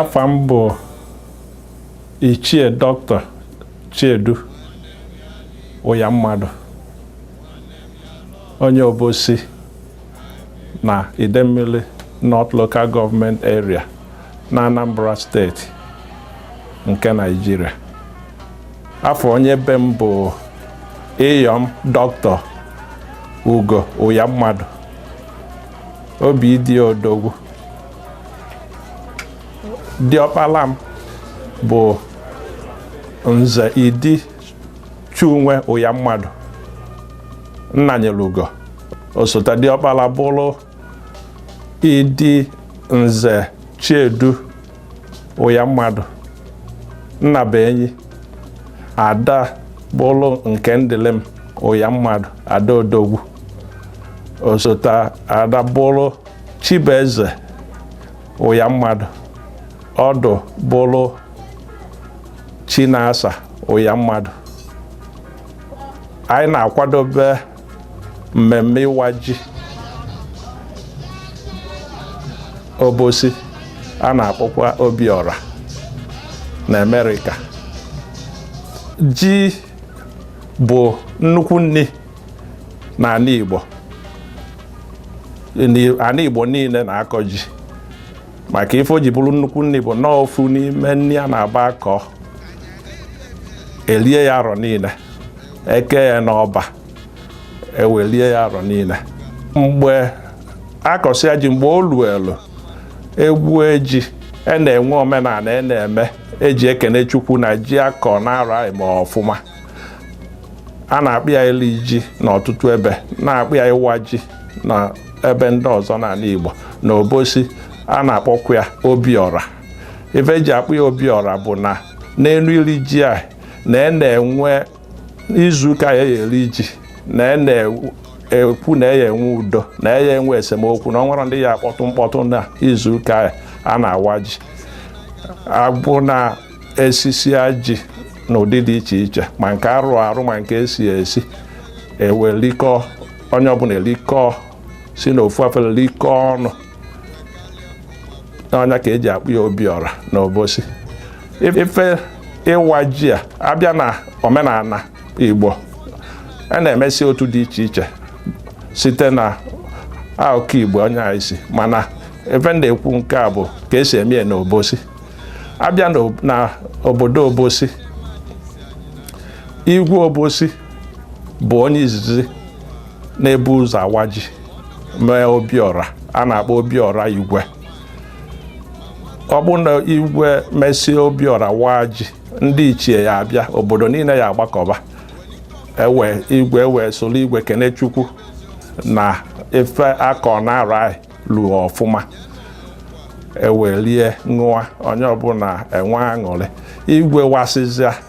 afa m bụ ichie dọkịta chiedu uyammadu onye obosi na idemili north local government area na Anambra steeti nke Naịjirịa afa onye be m bụ iyom dọkịta ugo uyammadu obidiya odogwu diọkpala m bụ nze idi chinwe uyammadu nnanyelugo osote diọkpala bụrụ idi nze chiedu uyammadu nnabuenyi ada bụlụ nkemdilim uyammadu ada odogwu osote ada bụlụ chibeze uyammadu ọdụ bụlụ chinasa uyammadu anyị na-akwadobe mmemme ịwa ji obosi a na-akpọkwa obiọra na Amerịka ji bụ nnukwu nni n'anị Igbo anị Igbo niile na-akọ ji maka ife o ji bụrụ nnukwu nni bụ na ọ ofu n'ime nni a na-abụ akọọ elie ya arọ niile ekee ya n'ọba ewee lie ya arọ niine mgbe akọsịa ji mgbe o luelu egwue ji e na-enwe omenana e na-eme eji ekene chukwu na ji akọ n'arọ a mee ọfụma a na-akpọ ya ili ji n'ọtụtụ ebe a na-akpọ ya ịwa ji na ebe ndị ọzọ n'anị Igbo na Obosi a na-akpọkwa ya Obiọra ife eji akpọ ya Obiọra bụ na n'enu iri ji a na e na-enwe izuụka ya e ye-eli ji na e na-ekwu na e ye-enwe udo na e ye-enwe esemokwu na o nwerọ ndị ya-akpọtụ mkpọtụ na izuụka ya a na-awa ji abụ na esisịa ji n'ụdị dị iche iche ma nke arụ arụ ma nke esi esi ewee likọọ onye ọbụna elikọọ si n'ofu afere likọọ ọnụ na ọ nya ka eji akpọ ya obiọra na obosi ife ịwa ji a abịa na omenana igbo a na-emesi otu dị iche iche site na akụkụ igbo onye ahụ si mana ife m na-ekwu nke a bụ ka esi eme ya na obosi abịa na obodo obosi igwe obosi bụ onye izizi na-ebu ụzọ awa ji mee obiọra a na-akpọ obiọra igwe ọ bụ na igwe mesịa obiọra waa ji ndị ichie ya abịa obodo niine ya agbakọba be igwe ewe solu igwe kene chukwu na ife a kọ na arọ anyị lụọ ọfụma ewe lie ṅụa onye ọbụna enwe aṅụrị igwe wasịzịa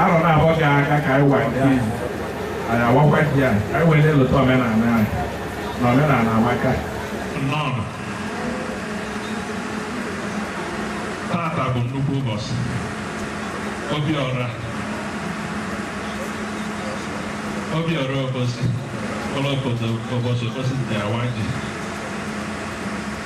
arọ na-abọ gị aka ka anyị wee anyị awakwa ji anyị ka anyị wee na-elota omenala anyị na omenala amaka tata bụ nnukwu ụbọchị obiọra obiọra obosi ụlọ obodo obosi obosi ji awa ji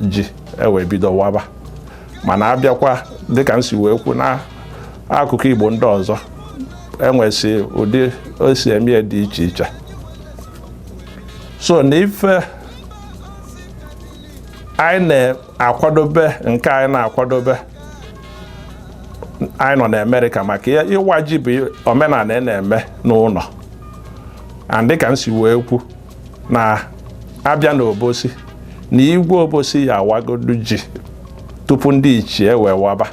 ji ewee bido waba mana abịakwa dịka m si wee kwu na akụkụ Igbo ndị ọzọ enwesị ụdị o si eme ya dị iche iche so na ife anyị na-akwadobe nke anyị na-akwadobe anyị nọ na Amerịka maka ịwa ji bụ omenana a na-eme n'ụnọ and dịka m si wee kwu na abịa n'obosi na igwe obosi ya awagodu ji tupu ndị ichie wee waba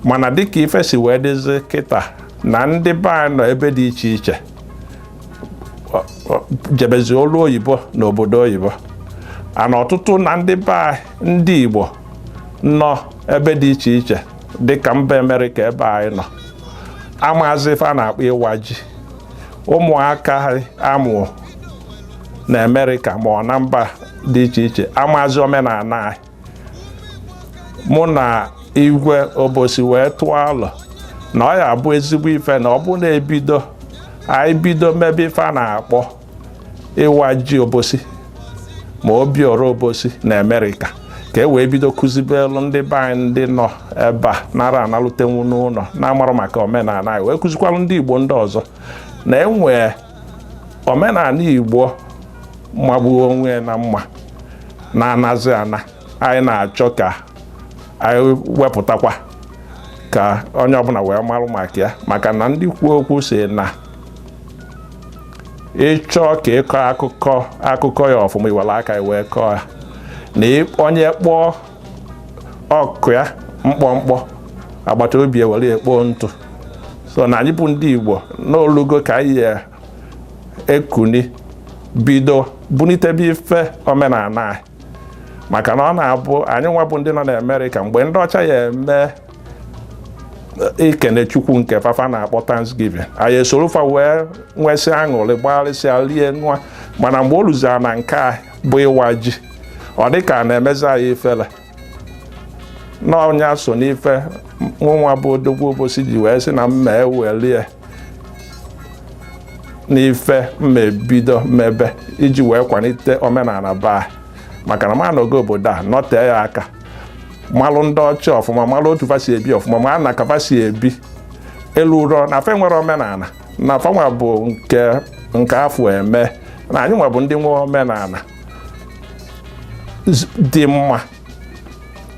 mana dịka ife si wee dịzi kịta na ndị be anyị nọ ebe dị iche iche jebezi ọlụ oyibo na obodo oyibo and ọtụtụ na ndị be anyị ndị igbo nọ ebe dị iche iche dịka mba amerịka ebe anyị nọ amaazị ife a na-akpọ ịwa ji ụmụaka amụọ na Amerịka ma ọ na mba dị iche iche amazi omenana anyị mụ na igwe obosi wee tụọ alo na ọ ya abụ ezigbo ife na ọ bụrụ na ebido anyị bido mebe ife a na-akpọ ịwa ji obosi ma Obiọra Obosi na Amerịka ka e wee bido kụzibelu ndị be anyị ndị nọ ebe a na-ara analutenwu n'ụnọ na-amarọ maka omenana anyị wee kụzikwalụ ndị Igbo ndị ọzọ na e nwee omenana Igbo magbuo onwe na mma na-anazi ana anyị na-achọ ka anyị wepụtakwa ka onye ọbụna wee marụ maka ya maka na ndị kwuo okwu si na ịchọọ ka ịkọ akụkọ akụkọ ya ọfụma iwere aka wee kọọ ya na onye kpọọ ọkụ ya mkpọmkpọ agbata obi ewere ya kpo ntụ so na anyị bụ ndị Igbo na o lugo ka anyị ya ekuni bido bunitebe ife omenala anyị maka na ọ na-abụ anyị nwa bụ ndị nọ na Amerịka mgbe ndị ọcha ya eme ikene chukwu nke fafa na-akpọ thanksgiving anyị esoro fa wee nwesị aṅụrị gbagharịsịa rie nwa mana mgbe o luzara na nke a bụ ịwa ji ọ dị ka a na-emezi anyị ifele n'ọnya so n'ife mụnwa bụ odogwu obosi ji wee sị na mma ewelie n'ife mma ebido mmebe iji wee kwalite omenala be anyị maka na m anọgo obodo a nọtee ya aka malụ ndị ọcha ọfụma malụ otu fa si ebi ọfụma mana ka fa si ebi elurọ na fa nwere omenala na fa nwa bụ nke nke a fụ e mee na anyị nwa bụ ndị nwe omenala z- dị mma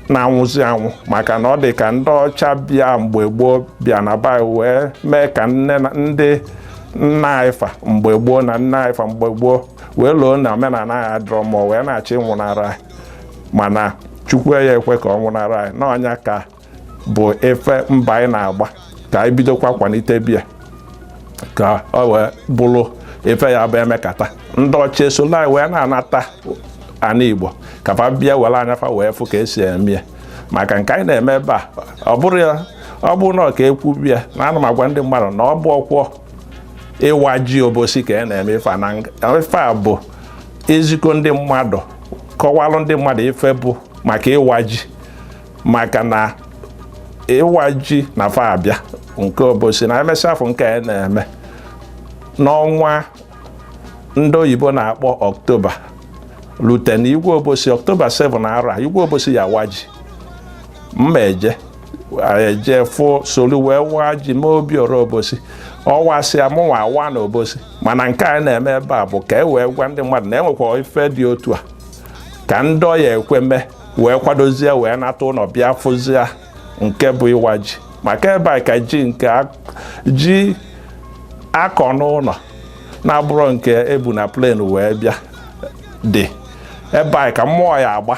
na-anwụzi anwụ maka na ọ dị ka ndị ọcha bịa mgbe gboo bịa na be anyị wee mee ka nne na ndị nna anyị fa mgbe gboo na nna anyị fa mgbe gboo wee loo na omenala anyị adịrọ mma o wee na-achọ ịnwụnara anyị mana chukwu ya ekwe ka ọ nwụnara anyị n'ọnya ka bụ ife mbọ anyị na-agba ka anyị bidokwa kwalitebe ya ka ọ wee bụrụ ife ya bụ emekata ndị ọcha esolu anyị wee na-anata ana igbo ka fa bịa were anya fa wee fụ ka esi eme ya maka nke anyị na-eme ebe a ọ bụrọ ya ọ bụrọ na ọ ka ekwu bịa na ana m agwa ndị mmadụ na ọ bụ okwu ịwa ji obosi ka a na-eme ife a na ife a bụ ezikọ ndị mmadụ kọwalụ ndị mmadụ ife bụ maka ịwa ji maka na ịwa ji na fa abịa nke obosi na emesịa afọ nke a na-eme n'ọnwa ndị oyibo na-akpọ ọktoba lute na igwe obosi ọktoba 7 arọ a igwe obosi ya awa ji mma eje eje fụ solu wee waa ji mee obiora obosi ọ wasịa mụnwa awaa na obosi mana nke a na-eme ebe a bụ ka e wee gwa ndị mmadụ na enwekwa ife dị otu a ka ndị ọ ya ekwe mee wee kwadozie wee nata ụnọ bịa fụzie nke bụ ịwa ji maka ebe a ka ji nke ji a kọ n'ụnọ na-abụrọ nke e bu na plane wee bịa dị ebe a ka mmụọ ya agba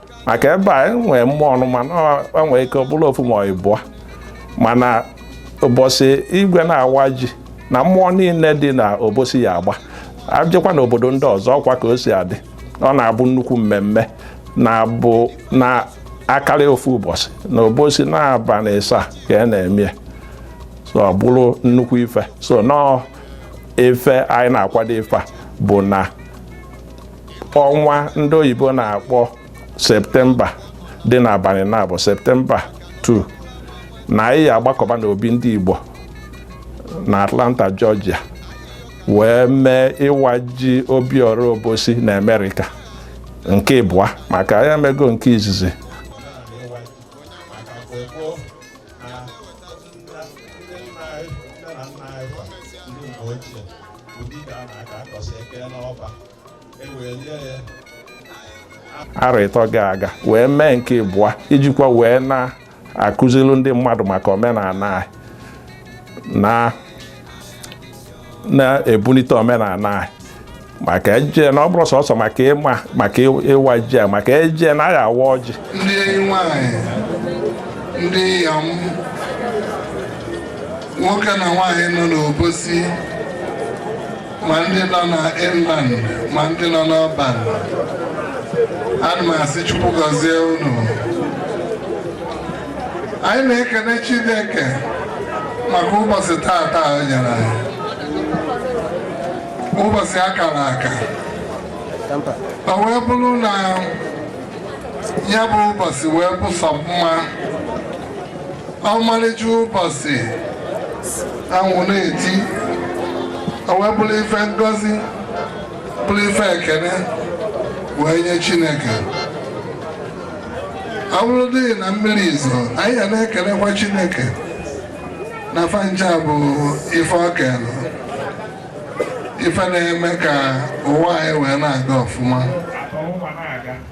maka ebe a enwee mmọnwụ mana o nwee ike ọ bụrụ ofu ma ịbụa mana ụbọchị igwe na-awa ji na mmụọ niile dị na obosi ya agba abịakwa na obodo ndị ọzọ ọkwa ka o si adị ọ na-abụ nnukwu mmemme na-abụ na akarị ofu ụbọchị na obosi n'abanị ịsaa ka a na-eme so ọ bụrụ nnukwu ife so nọọ ife anyị na-akwado ife a bụ na ọnwa ndị oyibo na-akpọ septemba dị n'abalị na-abụ septemba 2 na anyị ya agbakọba n'obi ndị igbo na atlanta georgia wee mee ịwa ji obiọra obosi na amerịka nke ịbụa maka anyị emego nke izizi arọ ịtọ gara aga wee mee nke ịbụa ijikwa wee na-akụzilu ndị mmadụ maka omenala anyị na na-ebulite omenala anyị maka eje na ọ bụrụ sọsọ maka ịma maka ịwa ji a maka eje na a ya awa ọjị ndị enyi nwanyị ndị iyom nwoke na nwaanyị nọ n'obosi ma ndị nọ na inland ma ndị nọ na urban ana m asị Chukwu gọzie unu anyị na-ekene Chineke maka ụbọchị taata o nyere anyị ụbọchị akara aka o wee bụrụ na ya bụ ụbọchị wee bụ sọ mma ọmarịcha ụbọchị anwụ na-eti o wee bụrụ ife ngọzi bụrụ ife ekene wee nye chineke ọ bụrụ dị na mmiri ezo anyị ya na-ekenekwa chineke na fa ncha bụ ife o kelụ ife na-eme ka ụwa anyị wee na-aga ọfụma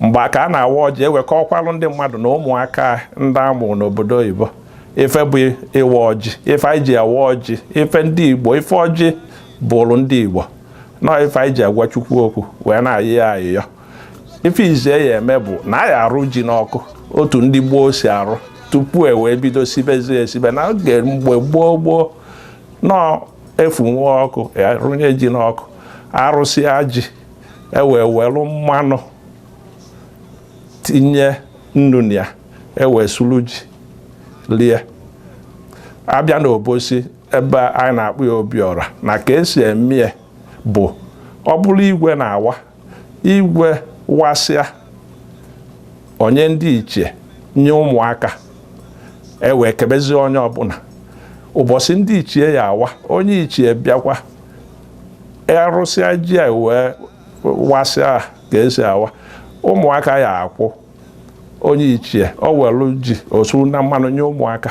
mgbe a ka a na-awa ọjị e wee kọọkwalụ ndị mmadụ na ụmụaka ndị a mụ n'obodo oyibo ife bụ ịwa ọjị ife anyị ji awa ọjị ife ndị igbo ife ọjị bụrụ ndị igbo na ife anyị ji agwa chukwu okwu wee na-ayọ ya ayịyọ ife izie ya eme bụ na anyị arụ ji n'ọkụ otu ndị gboo si arụ tupu e wee bido sibezie esibe na oge mgbe gboo gboo nọọ a fụnwa ọkụ arụnye ji n'ọkụ arụsịa ji ewee welu mmanụ tinye nnu na ya ewee sulu ji lie abịa na obosi ebe anyị na-akpọ ya obiọra na ka esi eme ya bụ ọ bụrụ igwe na-awa igwe wasịa o nye ndị ichie nye ụmụaka ewee kebezie onye ọbụna ụbọsị ndị ichie ya awa onye ichie bịakwa erusịa ji a wee wasịa ka esi awa ụmụaka ya akwụ onye ichie o welu ji o suo na mmanụ nye ụmụaka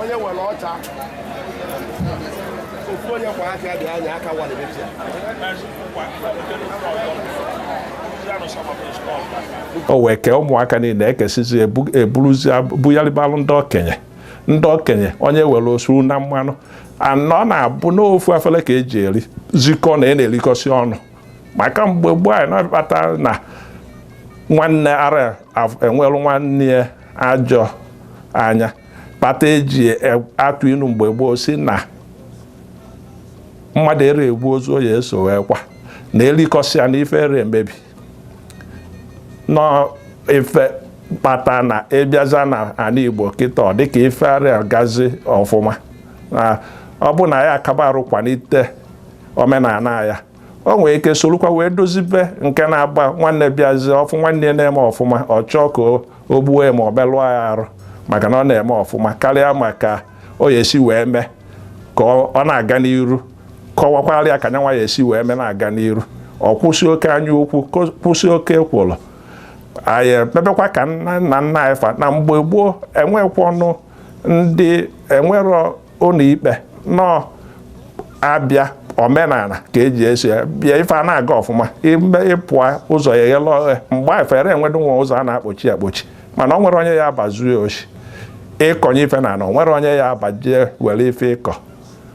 onye nwere ọcha ofu onye kwa aka dị anya aka walibechi o wee kee ụmụaka niine ekesịzie eburuzie bugharịbalụ ndị okenye ndị okenye onye welu o suo na mmanụ na ọ na-abụ n'ofu afele ka eji erizikọ na a na-elikọsị ọnụ maka mgbe gboo nya na-akpata na nwanne ara enwelụ nwanne ya ajọ anya kpata eji e, atụ inu mgbe gboo sị na mmadụ ere egbu ozu ọ ya eso wee kwa na elikọsịa na ife ere emebi na ọ ife kpata na ịbịazie na anị igbo kịta ọ dịka ife arị agazi ọfụma ọ bụ na ya akaba arụkwanite omenana ya o nwere ike solukwa wee dozibe nke na-abụ nwanne bịazie ọ fụ nwanne ya na-eme ọfụma ọ chọọ ka o gbuo ya ma ọ melụọ ya arụ maka na ọ na-eme ọfụma kalịa ma ka ọ ya esi wee mee ka ọ na-aga n'iru kọwakwara ya ka nya nwa ya esi wee mee na-aga n'iru ọ kwụsị oke anya ukwu kwụsị oke ekwolo anyị mebekwa ka nna nna anyị fa na mgbe gboo enwekwa ọnụ ndị enwero ụnọ ikpe nọ abịa omenana ka eji esi ya bịa ife a na-aga ọfụma ịpụa ụzọ ya eghelụ oghe mgbe afụ ere enwedu nwa ụzọ a na-akpọchi akpọchi mana o nwero onye ya aba zuo oshi ịkọnye ife na ana o nwero onye ya abaje were ife ịkọ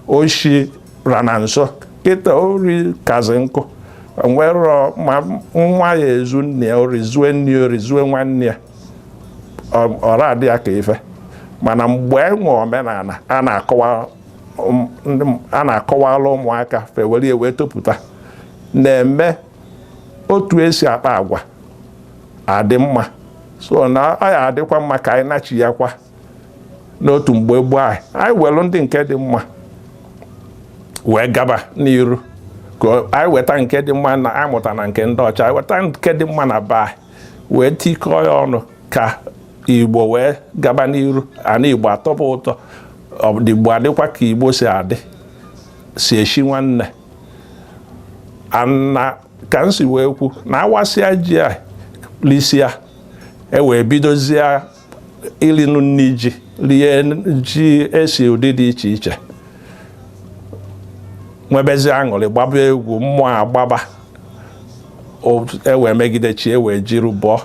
oshi rị na nsọ kịta ori kazi nkụ nwere ma nwa ya ezu nne ya ori zuo nne ya ori zuo nwanne ya ọ na-adị ya ka ife mana mgbe e nwe omenana a na-akọwala ụmụaka fa ewere ya wee topụta na-eme otu esi akpa agwa adị mma so na ọ ya adịkwa mma ka anyị nachiakwa n'otu mgbe gboo anyị anyị welu ndị nke dị mma wee gaba n'iru ka anyị weta nke dị mma na anyị mụta na nke ndị ọcha anyị weta nke dị mma na be anyị wee tikọọ ya ọnụ ka igbo wee gaba n'iru and igbo atọba ụtọ ndị igbo adịkwa ka igbo si adị si eshi nwanne and ka m si wee kwu na a wasịa ji e lisịa e wee bidozie ilinu nni ji rie ji esi ụdị dị iche iche nwebezi aṅụlị gbaba egwu mmụọ agbaba ewee megide chi ewee jiri bọọ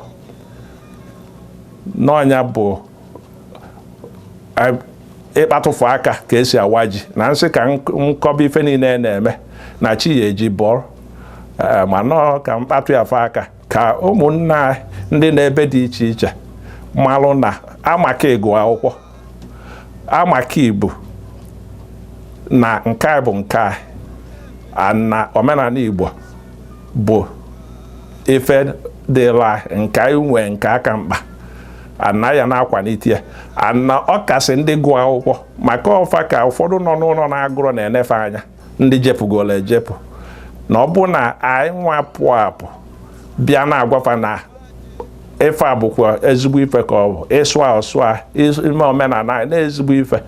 na ọ nya bụ ịkpatụfụ aka ka esi awa ji na m sị ka m kọba ife niine a na-eme na chi ya eji bọọ eh, mana ọ ka m kpatụ ya fụ aka ka ụmụnna anyị ndị nọ ebe dị iche iche malụ na amaka ịgụ akwụkwọ amaka ibu na nke anyị bụ nke anyị na omenana Igbo bụ ife dịla nke anyị nwee nke aka mkpa and a ya na-akwanite ya and ọ kasị ndị gụọ akwụkwọ maka ọ fa ka ụfọdụ nọ n'ụnọ na-agụrọ na-ene fa anya ndị jepụgolu ejepụ na ọ bụ na anyị nwa pụọ apụ bịa na-agwa fa na ife a bụkwa ezigbo ife ka ọ bụ ịsụ asụsụ ime omenana anyị na ezigbo ife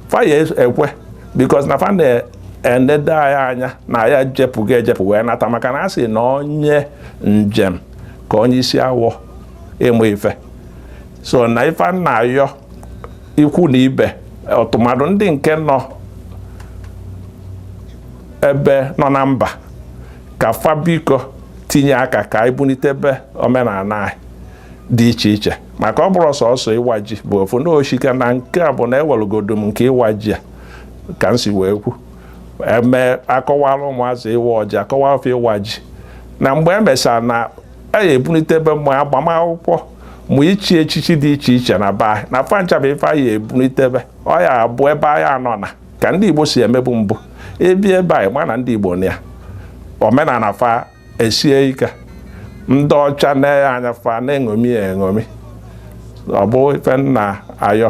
fa ya ekwe because na fa na-enede anyị anya na anyị ejepụgo ejepụ wee nata maka na a sị na onye njem ka onye isi awọ ịmụ ife so na ife m na-ayọ ikwu na ibe ọtụmadụ ndị nke nọ ebe nọ na mba ka fa biko tinye aka ka anyị bunitebe omenana anyị dị iche iche maka ọ bụrọ sọsọ ịwa ji bụ ofu na oshika na nke a bụ na ewelugodo m nke ịwa ji a ka m si wee kwu eme akọwala ụmụazị ịwa ọjị akọwala fa ịwa ji na mgbe e mechara na a ya ebunitebe ma agbamakwụkwọ ma ichi echichi dị iche iche na be anyị na fa ncha bụ ife a ya ebunitebe ọ ya abụ be anyị anọ na ka ndị Igbo si emebu mbụ ebi be anyị mana ndị Igbo na ya omenana fa esie ike ndị ọcha na-ene ya anya fa na-eṅomi ya eṅomi ọ bụ ife m na-ayọ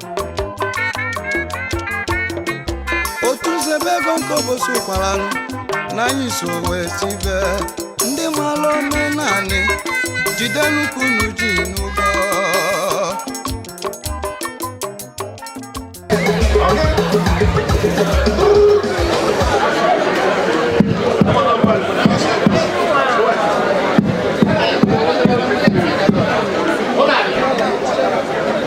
otu nzebe ego nke Obosi Ukwala na anyị so wee si be ndị mara omenanị jidenụ ka unu ji n'ụgwọ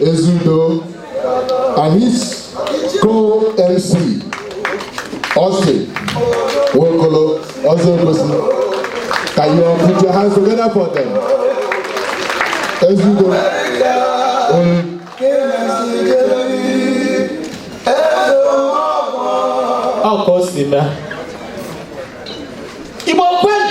Ezudo and his co-MC Austin Nwokolo Ọzọ Obosi. Can you all put your hands together for them? Ezudo. Um, Ọ ka o si mee. Igbo kwenu!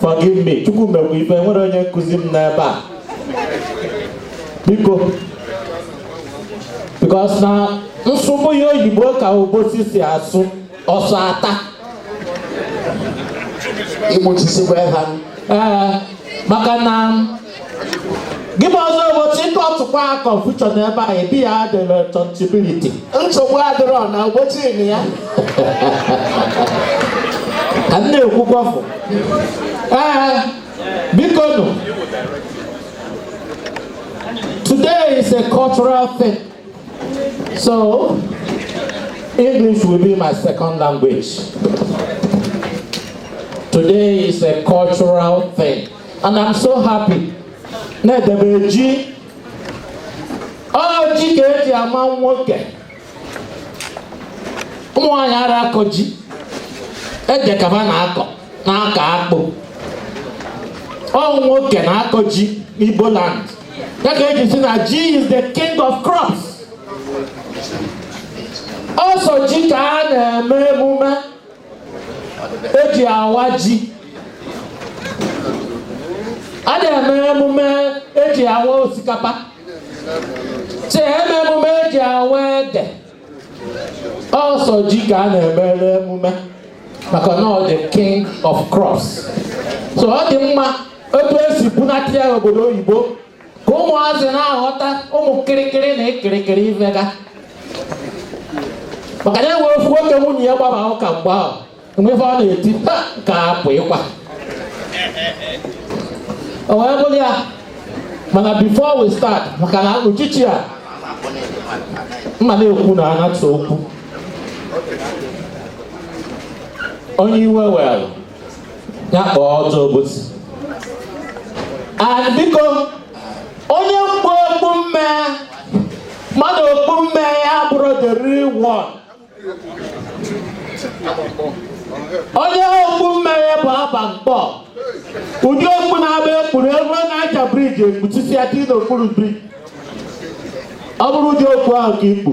Forgive me, Chukwu mekwa ife nwere onye nkụzi m n'ebe a. Biko. Because na m sụba oyibo ka obosi si asụ ọsọ ata. Ịmụchisikwa ha. Ee, maka na gị bụ Ọzọ Obosi ị kọtakwa confusion n'ebe a ị bear the responsibility nsogbu adịrọ na Obosi ị nụ ya ka m na-ekwu gbọfụ ee biko nụ today is a cultural thing so english will be my second language today is a cultural thing and I'm so happy na edebe ji ọ ji ka eji ama nwoke ụmụ nwaanyị ara akọ ji ede ka va na-akọ na-akọ akpụ ọ nwoke na-akọ ji n'Igbo land ya ka eji sị na ji is the king of crops ọsọ ji ka a na-emere emume eji awa ji a da eme emume eji awa osikapa si eme emume eji awa ede ọsọ ji ka a na-emere emume maka na ọ the king of crops so ọ dị mma otu esi bunata ya obodo oyibo ka ụmụazị na-aghọta ụmụ kịrịkịrị na-ekiri ife ga maka na enwe ofu nwoke nwunye ya gbaba ụka mgbe ahụ mgbefe ọ na-eti "Ha, ka apụ ịkwa o wee bụrụ ya mana before we start maka na uchichi a m ma na-ekwu na anatụ okwu onye iwe were ya kpọọ odogwu obosi and biko onye kpu okpu mme mmadụ okpu mme ya bụrụ the real one onye okpu mme ya bụ aba mkpọ ụdị okpu na-abụ ekpuru ebe ọnịcha bridge ekpuchisi aka n'okpuru bridge ọ bụrụ ụdị okpu ahụ ka i kpu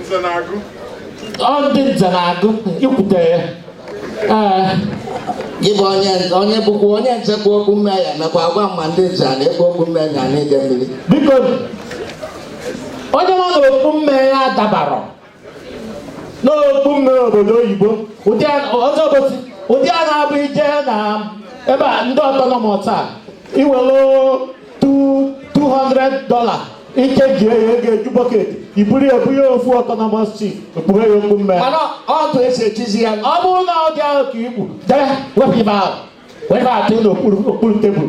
Nze na-agụ. Ọ ndị nze na-agụ i kpute ya. Ee. Gị bụ onye onye bụkwa onye nze kpu okpu mme ya mekwa agwa ma ndị nze a na-ekpu okpu mme na Idemili. Biko onye ma na okpu mme ya dabara n'okpu mme obodo oyibo ụdị a- ọzọ obosi ụdị a na-abụ i je na be ndị autonomous a i were 200 dollar ike ji eyi ego eju bucket i buru ebu ya ofu autonomous chief ekpube ya okpu mme mana otu esi echizi ya ọ bụrụ na ụdị ahụ ka i kpu jee wepụ ife ahụ wee na atụ n'okpuru okpuru table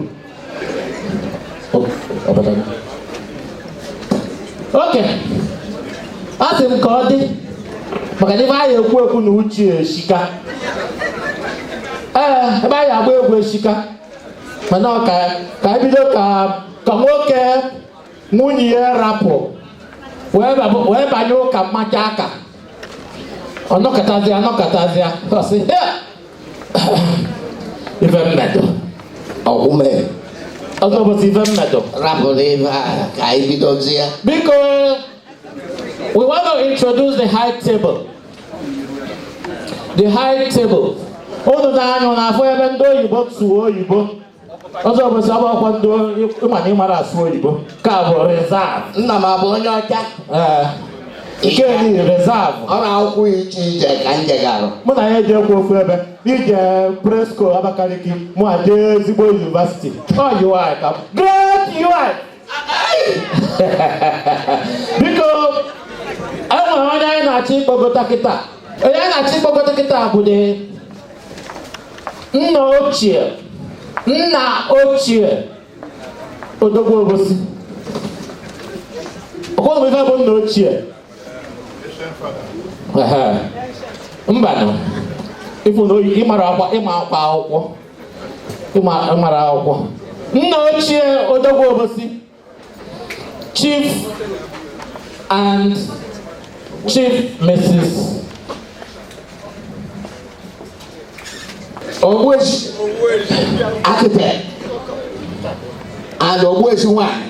okay asị m ka ọ dị maka na ife anyị ekwu ekwu na uche eshika ee ebe anyị agba egwu eshika mana ka ka anyị bido ka ka nwoke nwunye ya rapụ wee bab- wee banye ụka mmacha aka ọ nọkatazịa ọ nọkatazịa ọ sị "Ya, ife m medụ ọgwụme ọzọ obosi ife m medụ rapụrụ ife a ka anyị bidozie biko We want to introduce the high table. The high table. Unu na-anụ na-afụ ebe ndị oyibo sụọ oyibo ọzọ obosi ọkwa ndị ịma na ịmara asụ oyibo ka bụ reserve nna m abụ onye ọcha ee nke ni reserve ọ n'akwụkwọ i che i je ka m je garụ mụ na ya ejekwa ofu ebe i je presco abakaliki mụ eje ezigbo university ọ UI ka great UI biko enwere onye anyị na-achọ ịkpọgota kịta onye anyị na-achọ ịkpọgota kịta bụ dị nna ochie nna ochie odogwu obosi ọkwa ife bụ nna ochie mbanụ ịmara akwa ịma akwa akwụkwọ mara akwụkwọ nna ochie odogwu obosi chief and chief mrs ogbueshi architect and ogbueshi nwanyị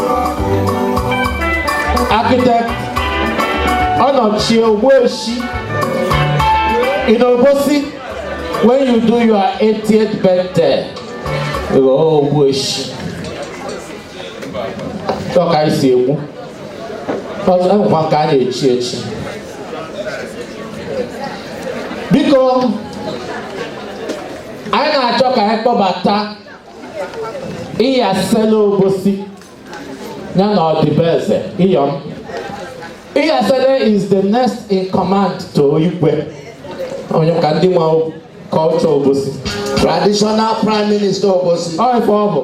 architect Onochie Ogbueshi in Obosi when you do your 80th birthday. Oh, Ogbueshi. Ọ ka e si egbu. A ka na-echi echi. Biko, anyị na-achọ ka anyị kpọbata iyasele obosi ya na ọdịbeze iyọm iyasele is the next in command to igwe onye ka ndị nwa culture obosi traditional prime minister obosi ọ ife ọ bụ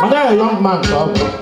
mana ya young man ka ọ bụ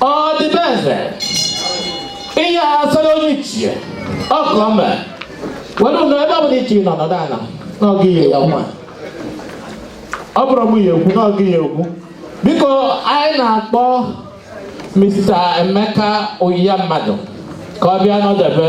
ọdịbeze iyasele onye ichie ọkụ ọma were ụlọ ebe ọ bụla iche nọ nọdụ ala na ọ gị ihe ya nwa ọ bụrọ mụ ya-ekwu na ọ gị ya-ekwu biko anyị na-akpọ Mr. Emeka Uyamadu ka ọ bịa nọdebe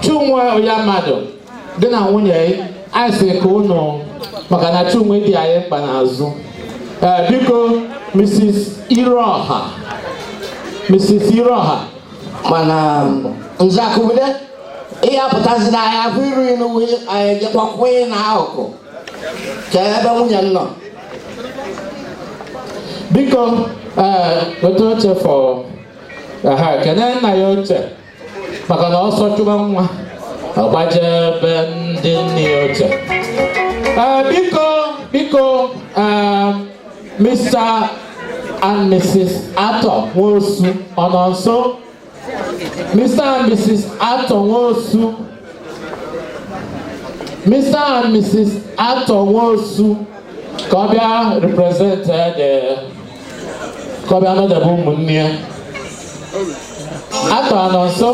Chinwe Uyamadu gị na nwunye gị anyị sị ka unu maka na Chinwe dị anyị mkpa n'azụ ee biko Mrs. Irọha Mrs. Irọha mana nzakubude ị ya-apụtazi na anyị afụ iru ilu anyị jekwakwa ị na akụkụ ka ebe nwunye m nọ biko ee weta oche for Kene nna ya ochie maka na ọsọ chụba nwa ọ gbaje be ndị nne ya ochie Eh, biko biko eh, Mr. and Mrs. Arthur Nwosu ọ nọ nso Mr. and Mrs. Arthur Nwosu Mr. and Mrs. Arthur Nwosu ka ọ bịa represent eh, the ka ọ bịa nọdebe ụmụnne ya Arthur ọ nọ nso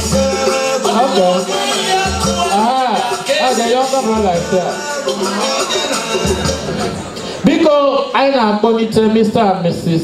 Okay. Ah, ah, the younger brother is there. Biko, anyị na-akpọlite Mr. and Mrs.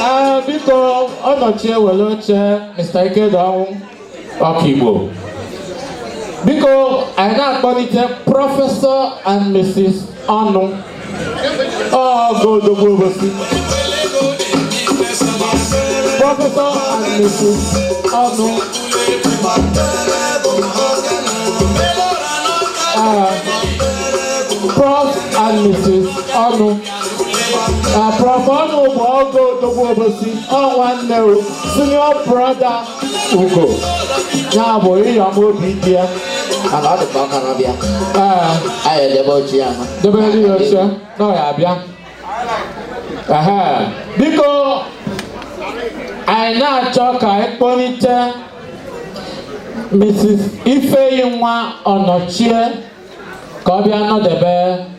Ah, biko Onochie were oche Mr. Ikediọnwụ Ọkigbo biko anyị na-akpọlite prọfesọ and Mrs. Ọnụọgụ odogwu obosi prọfesọ and Mrs. Ọnụ Ah, Prof and Mrs. ọnụ na prof ọnụ bụ ọgọ odogwu obosi ọ nwanne o senior brother ugo ya bụ ịyọm obidiya mana ọ dịkwa ọ ka na-abịa ee anyị edebe oche ya ma debe ndị ya oche na ọ ya-abịa ehe biko anyị na-achọ ka anyị kpọlite mrs ifeyinwa ọnọchie ka ọ bịa nọdebe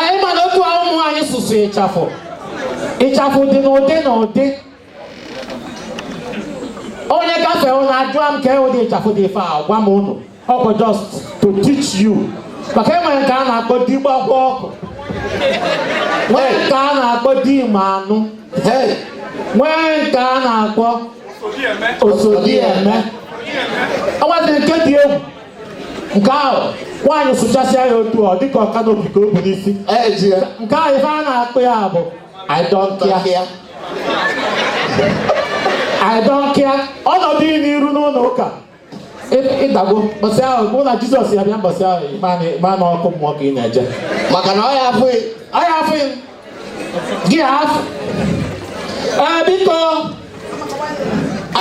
anyị mana otu a ụmụ nwanyị sụsụ ịchafụ ịchafụ dị n'ụdị n'ụdị onye gafee ụnụ ajụọ m kee ụdị ịchafụ dị ife a gwa m ụnụ ọ bụ just to teach you maka e nwere nke a na-akpọ di gbakwa ọkụ nwee nke a na-akpọ di ma anụ Hey, nwee nke a na-akpọ osodieme o nwezi nke dị egwu nke ahụ nwaanyị sụchasịa ya otu ọ dịka ọ canopy ka o bu n'isi eji ya nke ahụ ife a na-akpọ ya bụ I don't care. tọkịa I don't care. ọ nọdụ ị n'iru n'ụnọ ụka ị- ị dago mbọsị ahụ bụ na Jizọs ya-abịa mbọsị ahụ ị ma na- ị ma na ọkụ mmụọ ka ị na-eje maka na ọ ya afụ gị ọ ya afụ gị afụ ee biko